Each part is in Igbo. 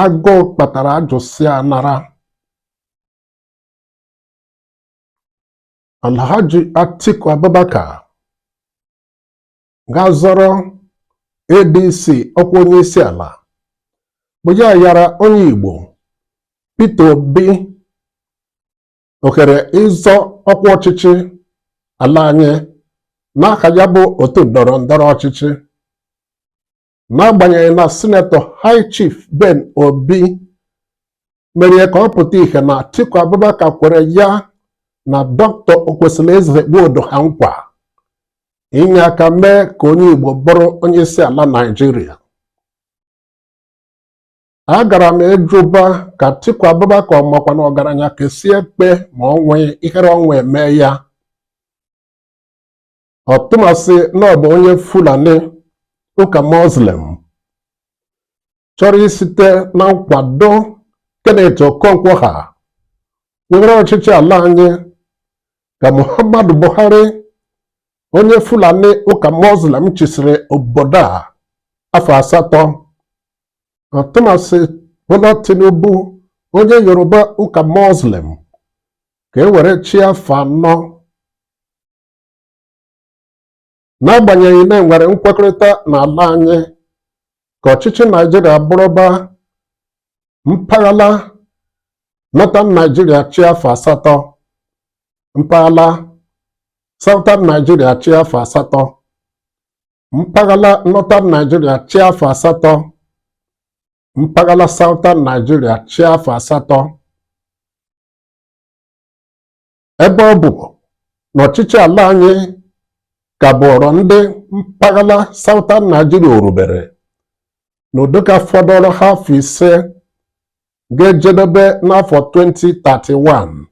agụụ kpatara ajụsịa nara Alhaji Atiku Abubakar ga-azọrọ ADC ọkwa onye isi ala bụ ya yara onye Igbo Peter Obi ohere ịzọ ọkwa ọchịchị ala anyị n'aka ya bụ otu ndọrọ ndọrọ ọchịchị n'agbanyeghị na sinetọ High Chief Ben Obi mere ka ọ pụta ihe na Atiku Abubakar kwere ya na Dr. Okwesilieze Nwodo ha nkwa inye aka mee ka onye Igbo bụrụ onye isi ala Naịjirịa agara m ịjụba ka Atiku Abubakar makwa na ọgaranya kesie ekpe ma ọ nwụghị ihere ọnwụ eme ya ọtụmasị na ọ bụ onye Fulani ụka Muslim chọrọ isite na nkwado Kenneth Okonkwo ha were ọchịchị ala anyị ka Muhammadu Buhari onye Fulani ụka Muslim chịsịrị obodo a afọ asatọ ọtụmasị Bola Tinubu onye Yoruba ụka Muslim ka e were chịa afọ anọ n'agbanyeghị na e nwere nkwekọrịta n'ala anyị ka ọchịchị Naịjirịa bụrụba mpaghara Northern Nigeria chịa afọ asatọ mpaghara Southern Nigeria chịa afọ asatọ mpaghara Northern Nigeria chịa afọ asatọ mpaghara Southern Nigeria chịa afọ asatọ ebe ọ bụ na ọchịchị ala anyị ka bụọrọ ndị mpaghara Southern Nigeria o rubere n'ụdị ọ ka fọdụrụ ha afọ ise ga-ejedebe n'afọ 2031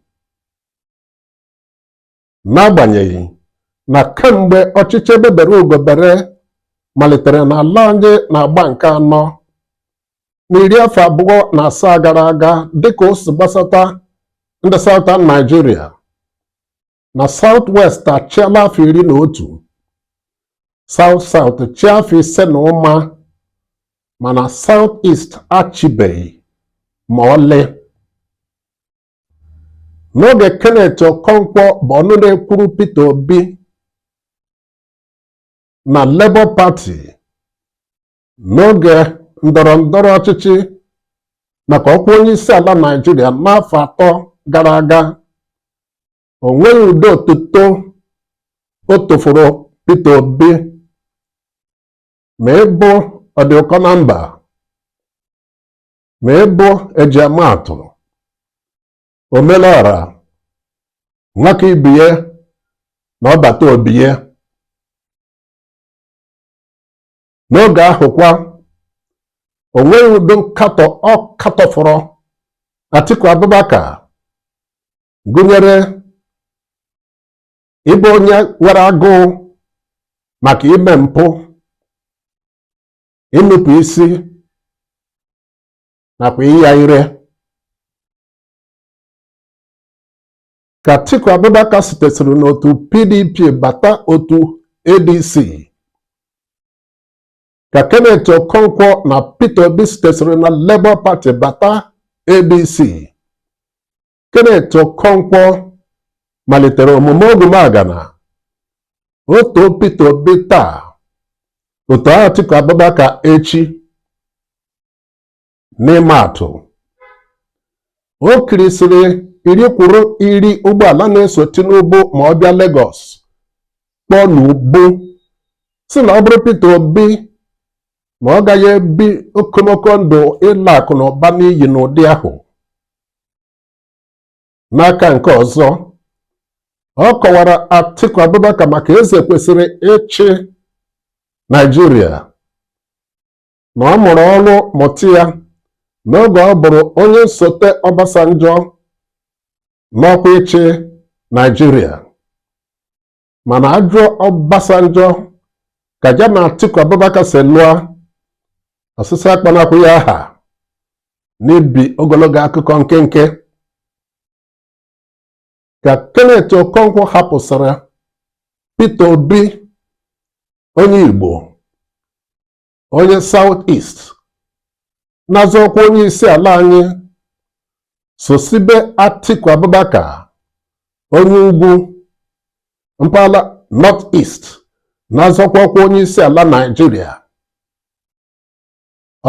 n'agbanyeghị na kemgbe ọchịchị egbe bere ugo bere malitere n'ala anyị n'agba nke anọ n'iri afọ abụọ na asaa gara aga dịka o si gbasata ndị Southern Nigeria na South West achịala afọ iri na otu South South chịa afọ ise na ụma mana South East achịbeghị ma ọlị n'oge Kenneth Okonkwo bụ ọnụ na-ekwuru Peter Obi na Labour Party n'oge ndọrọ ndọrọ ọchịchị maka ọkwa onye isi ala Naịjirịa n'afọ atọ gara aga o nweghị ụdị otuto o tofọrọ Peter Obi ma ịbụ ọdị ụkọ na mba ma ịbụ e ji ama atụ omelọra nwaka ibie na ọbata obie n'oge ahụ kwa o nweghị ụdị nkatọ ọ katọfọrọ Atiku Abubakar gụnyere ịbụ onye nwere agụụ maka ime mpụ inupụ isi nakwa ịya ire ka Atiku Abubakar sitesịrị n'otu PDP bata otu ADC ka Kenneth Okonkwo na Peter Obi sitesịrị na Labour Party bata ADC Kenneth Okonkwo malitere omume ogwumagana otu Peter Obi taa otu Atiku Abubakar echi n'ịma atụ o kirisịrị iri kwuru iri ụgbọala na-eso Tinubu ma ọ bịa Lagos kpọọ n'ubu sị na ọ bụrụ Peter Obi ma ọ gaghị ebi okomoko ndụ ịla akụ na ụba n'iyi n'ụdị ahụ n'aka nke ọzọ ọ kọwara Atiku Abubakar maka eze kwesịrị ịchị Naịjirịa na ọ mụrụ ọrụ mụta ya n'oge ọ bụrụ onye nsote Obasanjo n'ọkwa ịchị Naịjirịa mana a jụọ Obasanjo ka ya na Atiku Abubakar si lụọ ọsịsa akpọnakwa ya aha n'ibi ogologo akụkọ nkenke ka Kenneth Okonkwo hapụsịrị Peter Obi onye Igbo onye South East na-azọ ọkwa onye isi ala anyị sosibe Atiku Abubakar onye ugwu mpaghara North East na-azọkwa ọkwa onye isi ala Naịjirịa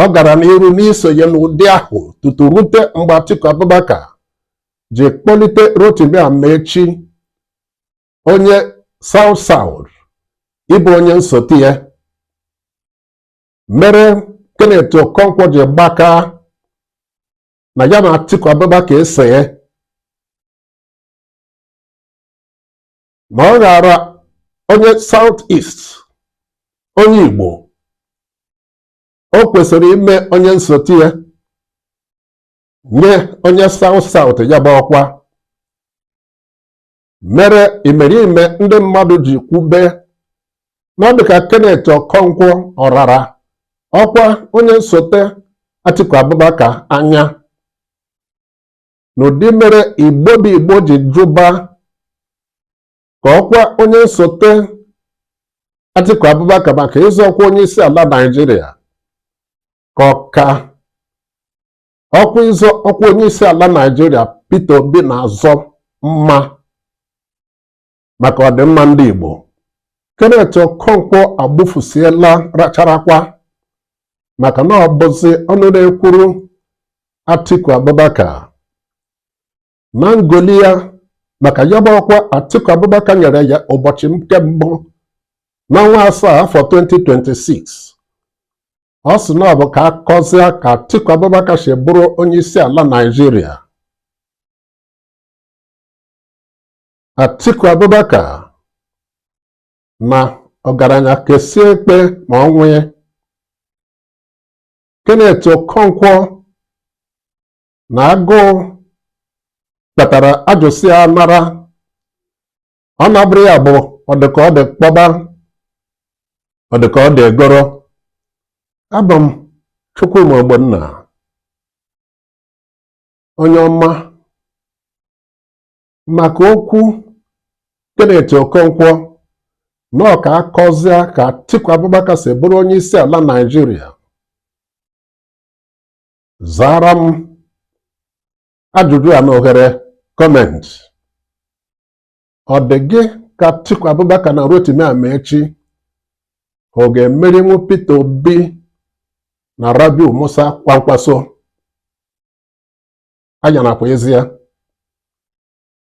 ọ gara n'iru n'isonye n'ụdị ahụ tutu rute mgbe Atiku Abubakar ji kpọlite Rotimi Amaechi onye South South ịbụ onye nsote ya mere Kenneth Okonkwo ji gbaka na ya na Atiku Abubakar esoghị ma ọ ghara onye South East onye Igbo o kwesịrị ime onye nsote ya nye onye South South ya bụ ọkwa mere imerime ndị mmadụ ji kwube na ọ dịka Kenneth Okonkwo ọ rara ọkwa onye nsote Atiku Abubakar anya n'ụdị mere Igbo bụ Igbo ji jụba ka ọkwa onye nsote Atiku Abubakar maka ịzọ ọkwa onye isi ala Naịjirịa ka ọ ka ọkwa ịzọ ọkwa onye isi ala Naịjirịa Peter Obi na-azọ mma maka ọdịmma ndị Igbo Kenneth Okonkwo agbufusiela racharakwa maka na ọ bụzi ọnụ na-ekwuru Atiku Abubakar na ngoli ya maka ya bụ ọkwa Atiku Abubakar nyere ya ụbọchị nke mbụ n'ọnwa asaa afọ 2026 ọ sị na ọ bụ ka a kọzie ka Atiku Abubakar si bụrụ onye isi ala Naịjirịa Atiku Abubakar na ọgaranya kesie ekpe ma ọ nwee Kenneth Okonkwo na agụụ kpatara ajụsịa anara ọ na-abụrụ ya bụ ọ dị ka ọ dị kpọba ọ dị ka ọ dị egoro abụ m Chukwuma Ogbonna onye ọma maka okwu Kenneth Okonkwo na ọ ka a kọzịa ka Atiku Abubakar si bụrụ onye isi ala Naịjirịa zaara m ajụjụ a n'ohere comment ọ dị gị ka Atiku Abubakar na Rotimi Amaechi ọ ga-emerinwu Peter Obi na Rabiu Musa Kwankwaso anya nakwa ezi ya